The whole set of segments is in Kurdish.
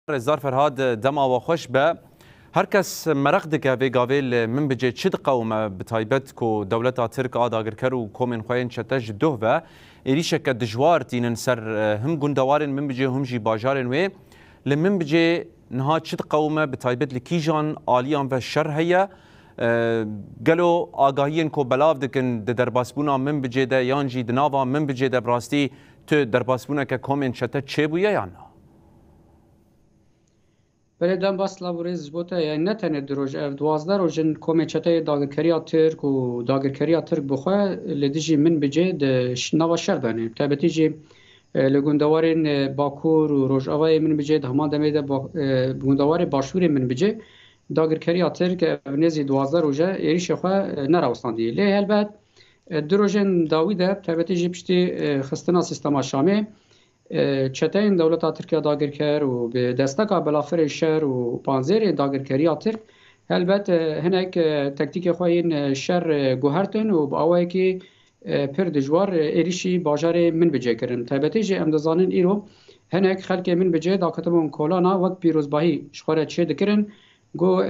Rêzdar Ferhad dema we xweş be. Her kes mereq dike vê gavê li min bicê çi diqewime bi taybet ku dewleta Tirk a dagirker û komên xwe yên çete ji doh ve êrîşeke dijwar tînin ser him gundewarên min bicê hûm jî bajarên wê. Li min bicê niha çi diqewime bi taybet li kîjan aliyan ve şer heye? Gelo agahiyên ku belav dikin di derbasbûna min bicê de yan jî di nava min bicê de bi rastî tu derbasbûneke komên çete çêbûye yan na? Belê demba silav û rêz ji bo te ye. Ne tenê du roj ev duwazdeh roj in komê çeteyê dagirkeriya Tirk û dagirkeriya Tirk bi xwe li dijî min bi cê di nava şer de ne. Bi taybetî jî li gundewarên Bakur û Rojavayê min bi cê di heman demê de gundewarê Başûrê min bi cê dagirkeriya Tirk ev nêzî duwazdeh roj e êrîşê xwe nerawestandî. Lê helbet du rojên dawî de bi taybetî jî piştî xistina sîstema Şamê, Çeteyên dewleta Tirk ya dagirker û bi desteka belafirê şer û panzêrê dagirkeriya Tirk helbet hinek tektîkê xwe yên şer guhertin û bi awayekî pir dijwar êrîşî bajarê Minbicê kirin. Taybetî jî em dizanin îro hinek xelkê Minbicê dakitibûn kolana wek pîrozbahî ji xwe re çêdikirin Got,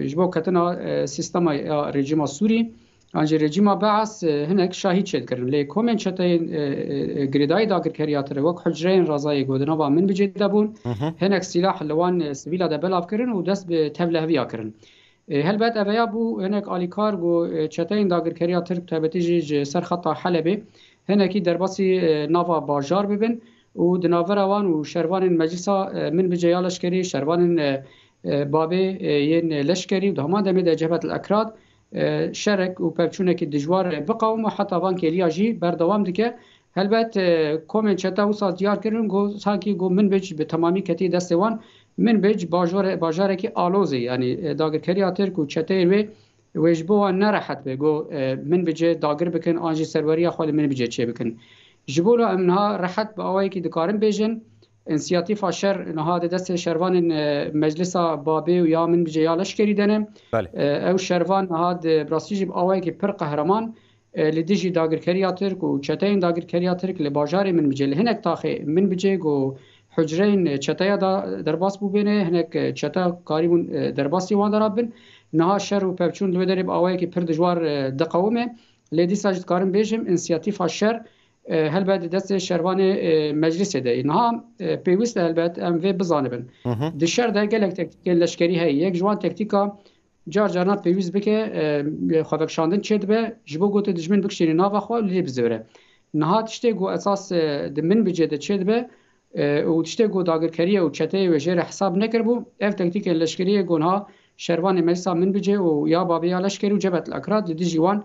Ji bo ketina sîstema ya rejîma Sûrî an jî rejîma Beas hinek şahîd şêd kirin. Lê komên çeteyên girêdayî dagirkeriya tire wek Hucreyên Rezayê ku di nava Minbicê de bûn, hinek sîlah li wan sivîla de belav kirin û dest bi tevleheviya kirin. Helbet ev ya bû hinek alîkar ku çeteyên dagirkeriya tirk taybetî jî ji ser xeta Helebê hinekî derbasî nava bajar bibin û di navbera wan û şervanên Meclisa Minbicê ya Leşkerî, şervanên Babê yên Leşkerî û di heman demê de Cebhet El Ekrad şerek û pevçûnekî dijwar biqewim û heta van kêliya jî berdewam dike. Helbet komên çete wisa diyar kirin ku sankî ku Minbic bi temamî ketiye destê wan. Minbic bajarekî alozê yanî dagirkeriya tirk û çeteyên wê Wê ji bo wan nerehet be, got, Min bi cih dagir bikin an jî serweriya xwe li min bi cih çê bikin. Ji bo la em niha rehet bi awayekî dikarin bêjin, Însiyatîfa Şer niha di destê şervanên Meclisa Babê û ya Min bi cih ya Leşkerî de ne. Ew şervan niha di rastî jî bi awayekî pir qehreman Li dijî dagirkeriya Tirk û çeteyên dagirkeriya Tirk li bajarê Minbicê li hinek taxê Minbicê ku hucreyên çeteya de derbas bûbêne, hinek çete karîbûn derbasî wan de re bibin. Niha şer û pevçûn li wê derê bi awayekî pir dijwar diqewime. Lê dîsa jî dikarim bêjim însiyatîfa şer helbet di destê şervanê Meclîsê de yê. Niha pêwîst e helbet em vê bizanibin. Di şer de gelek tektîkên leşkerî heye. Yek ji wan tektîka Car caran pêwîst bike xwevekişandin çêdibe ji bo gotê dijmin bikişînî nava xwe lê bizivire. Niha tiştê ku esas di min bicê de çêdibe û tiştê ku dagirkeriye û çeteyê wê jê re hesab nekiribû, ev tektîkên leşkerî yê gonha şervanê meclisa min bicê û ya babê ya leşkerî û Cebhetel Akrat li dijî wan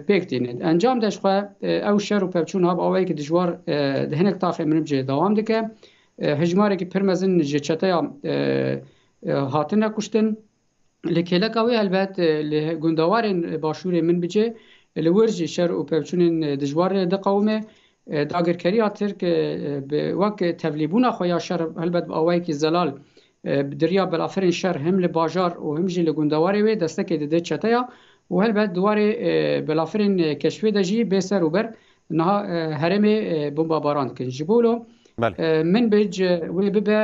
pêk tîne. Di encam de jixwe ew şer û pevçûn ha bi awayekî dijwar di hinek taxên min bicê dewam dike. Hicmarekî pir mezin ji çeteya Hatine kuştin. Lê kêleka wê helbet li gundewarên başûrê min bicê, li wir jî şer û pevçûnên dijwar diqewime. Dagirkeriya Tirk bi wek tevlîbûna xwe ya şer helbet bi awayekî zelal bi diriya belafirên şer him li bajar û him jî li gundewarê wê destekê dide çeteya û helbet di warê belafirên keşfê de jî bê ser û ber Niha herêmê bombabaran dikin. Ji bo min bêj wê bibe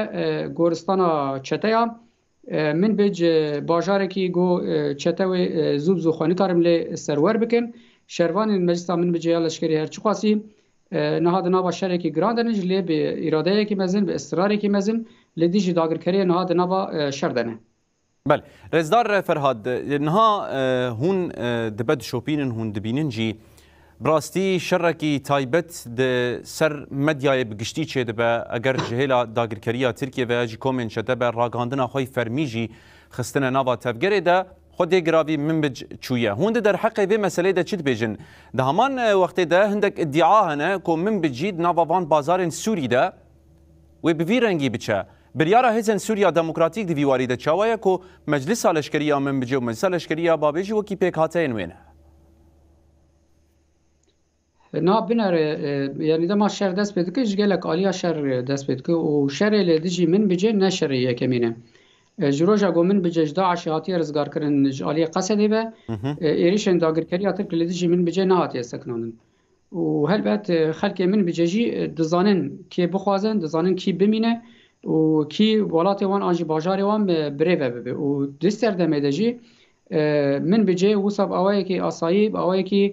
goristana çeteya min bêj bajarekî go çete wê zû bi zû xwe nikarim lê serwer bikin. Şervanên meclisa min bicê ya leşkerî her çiqasî niha di nava şerekî giran de ne ji lê bi îradeyekî mezin bi israrekî mezin li dijî dagirkeriyê niha di nava şer de ne. Belê. Rêzdar Ferhad, niha hûn dibe dişopînin, hûn dibînin jî bi rastî şerekî taybet di ser medyayê bi giştî çêdibe, eger ji hêla dagirkeriya Tirkiyê ve ji komên çete be ragandina xwe yê fermî jî xistine nava tevgerê de, xwe dê giravî Minbic çûye. Hûn di derheqê vê meseleyê de çi dibêjin? Di heman wextê de hindek îdia hene ku Minbic jî di nava van bazarên Sûrî de, Wê bi vî rengî biçe. Biryara hêzên Sûriya Demokratîk di vî warî de çawa ye ku Meclisa Leşkerî ya min bice û Meclisa Leşkerî ya bavê jî wekî pêkhateyên wê ne? Na binere yanî dema şer dest pê dike ji gelek aliya şer dest pê dike û şerê li dijî min bice ne şerê yekemîn e. Ji roja ku min bice ji DAIŞê hatiye rizgarkirin ji aliyê Qesedê ve êrîşên dagirkeriya Tirk li dijî min bice nehatiye sekinandin. Û helbet xelkê min bi cejî dizanin kê bixwazin, dizanin kî bimîne û kî welatê wan an jî bajarê wan bi rê ve bibe û di serdemê de jî min bi cê wisa bi awayekî asayî, bi awayekî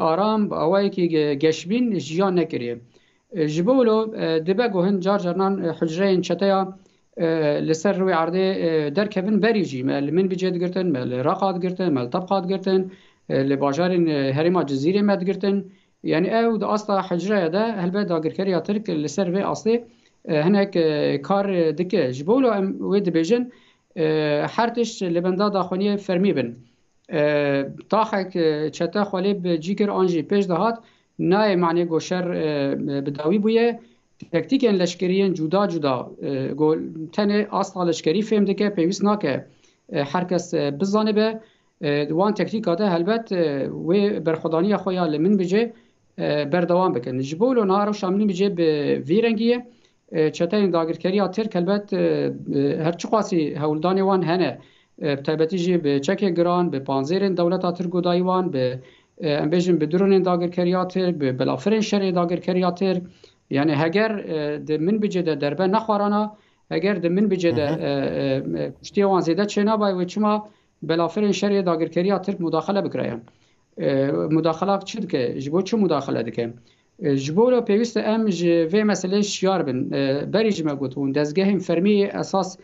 aram, bi awayekî geşbîn jiyan nekiriye. Ji bo wilo dibe ku hin car carnan hucreyên çeteya li ser rûyê erdê derkevin berî jî me li Minbicê digirtin, me li Reqa digirtin, me li Tebqa digirtin, li bajarên herêma Cizîrê me digirtin. Yanî ew di asta hucreye de helbet dagirkeriya Tirk li ser vê astê hinek kar dike. Ji bo wilo em wê dibêjin her tişt li benda daxuyaniyê fermî bin. Taxek çete xwe lê bi cî kir an jî pêş dihat Nayê manê ku şer bi dawî bûye. Tektikên leşkerî yên cuda cuda ku tenê asta leşkerî fêm dike pêwîst nake her kes bizanibe. Di wan tektika de helbet wê berxwedaniya xwe ya li Minbicê berdewam bikin. Ji bo wilo niha rewşa Minbicê bi vî rengî ye. Çeteyên dagirkeriya Tirk helbet her çiqasî hewldanê wan hene, bi taybetî jî bi çekê giran, bi panzêrên dewleta Tirk û dayî wan, bi em bêjin bi dronên dagirkeriya Tirk, bi belafirên şerê dagirkeriya Tirk. Yanî heger di minbicê de derbe nexwarana, heger di minbicê de kuştiyê wan zêde çênabaye wê çima belafirên şerê dagirkeriya Tirk mudaxile bikirayan. Mudaxilak çi dike? Ji bo çi mudaxile dike? Ji bo wilo pêwîst e em ji vê meseleyê şiyar bin. Berî jî me got hûn dezgehên fermî yê esas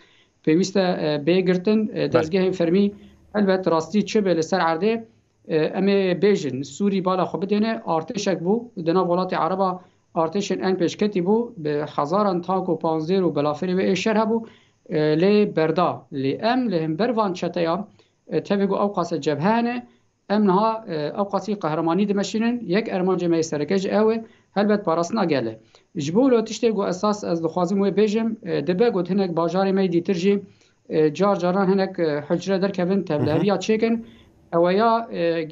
pêwîst e bê girtin. Dezgehên fermî helbet rastî çi be li ser erdê em ê bêjin. Sûrî bala xwe bidêne artêşek bû di nav welatê ereba artêşên ên pêşketî bû bi hezaran tank û panzêr û belafirê wê ê şer hebû lê berda. Lê em li hember van çeteyan tevî ku ewqas e cebhe hene Em niha ewqasî qehremanî dimeşînin, yek ermancê me yê sereke jî ew e, helbet parastina gel e. Ji bo wilo tiştê ku esas ez dixwazim wê bêjim, dibe got hinek bajarê me yê dîtir jî car caran hinek hucre derkevin tevliheviya çêkin, ewe ya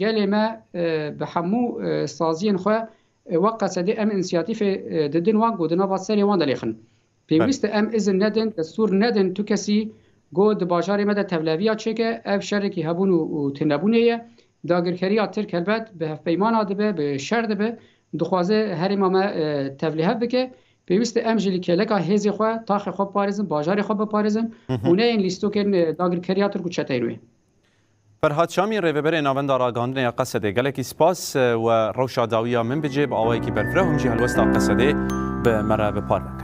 gelê me bi hemû saziyên xwe wek qesedê em însiyatîfê didin wan ku di nava serê wan de lêxin. Pêwîst e em izin nedin, destûr nedin tu kesî ku di bajarê me de tevleviya çêke, ev şerekî hebûn û tênebûnê ye. Dagirkeriya Tirk helbet bi hevpeymana dibe, bi şer dibe, dixwaze herêma me tevlihev bike. Pêwîst e em jî li kêleka hêzê xwe, taxê xwe biparêzin, bajarê xwe biparêzin û neyên lîstokên dagirkeriya Tirk û çeteyên wê. Ferhat Şamî, Rêveberê Navenda Ragandinê ya Qesedê, Gelekî spas, we rewşa dawiya min bi cê bi awayekî berfireh û min jî helwesta Qesedê bi me re bi par ve kir.